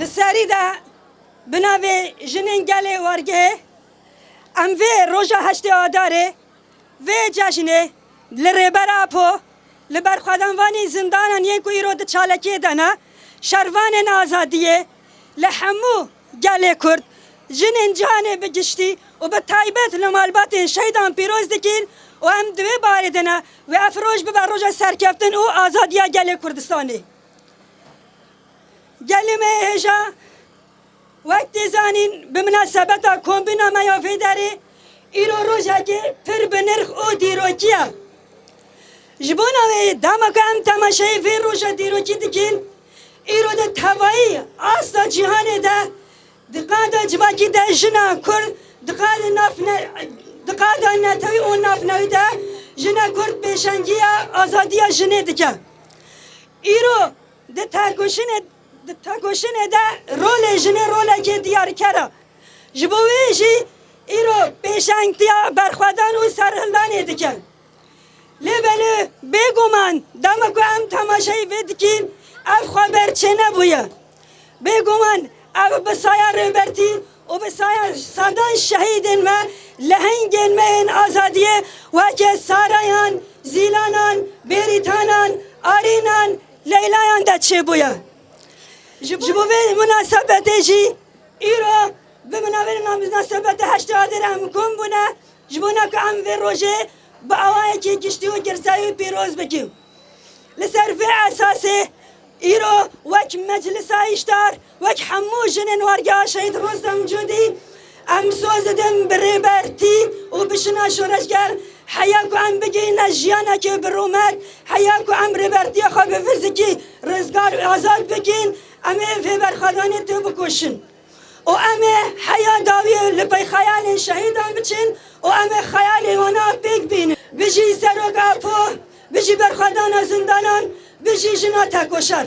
Di serî de bi navê Jinên Gelê Wargehê em vê roja heştê Adarê vê cejnê li Rêber Apo li berxwedanvanî zindanan yên ku îro di çalakiyê de ne, şervanên azadiyê, Li hemû gelê Kurd, jinên cîhanê bi giştî û bi taybet li malbatên şehîdan pîroz dikin û em di wê barê de ne wê ev roj bibe roja serkeftin û azadiya gelê Kurdistanê. Gelê me yê hêja, wek tê zanîn bi minasebeta kombîna me ya vê derê, îro rojekê pir bi nirx û dîrokî ye. Ji bo navê dema ku em temaşayê vê roja dîrokî dikin, Îro di tevayî asta cîhanê de di qada civakî de jina Kurd di qada nav di qada netewî û navnewî de jina Kurd pêşengiya azadiya jinê dike. Îro di têkoşinê di têkoşinê de rolê jinê rolekê diyarker e. Ji bo wê jî îro pêşengtiya berxwedan û serhildanê dike. Lê belê bêguman dema ku em temaşeyê vê dikîn ev xweber çênebûye. Bêguman ev bi saya Rêbertî û bi saya sedan şehîdên me, lehengên me yên azadiyê weke Sarayan, Zîlanan, Bêrîtanan, Arînan, Leylayan de çêbûye. Ji bo vê munasebetê jî îro bi minavên namîzna Sebetê Heştê Adêrê em kom bûne. Ji bona ku em vê rojê bi awayekî giştî û girsayî pîroz bikin, li ser vê esasê îro wek Meclisa Hişdar, wek hemû jinên Wargeha Şehîd Rostem Cûdî em soz didin bi Rêber Tî û bi jina şoreşger heya ku em bigihîne jiyanekê bi rûmet, heya ku em Rêber Tîya xwe bi fizikî rizgar û azad bikin, em ê vê berxwedanê têbikoşin. û em ê heya dawî li pey xeyalên şehîdan biçin û em ê xeyalên wan a pêk bînin. Bijî Serok Apo, bijî berxwedana zindanan, bijî jina tekoşer.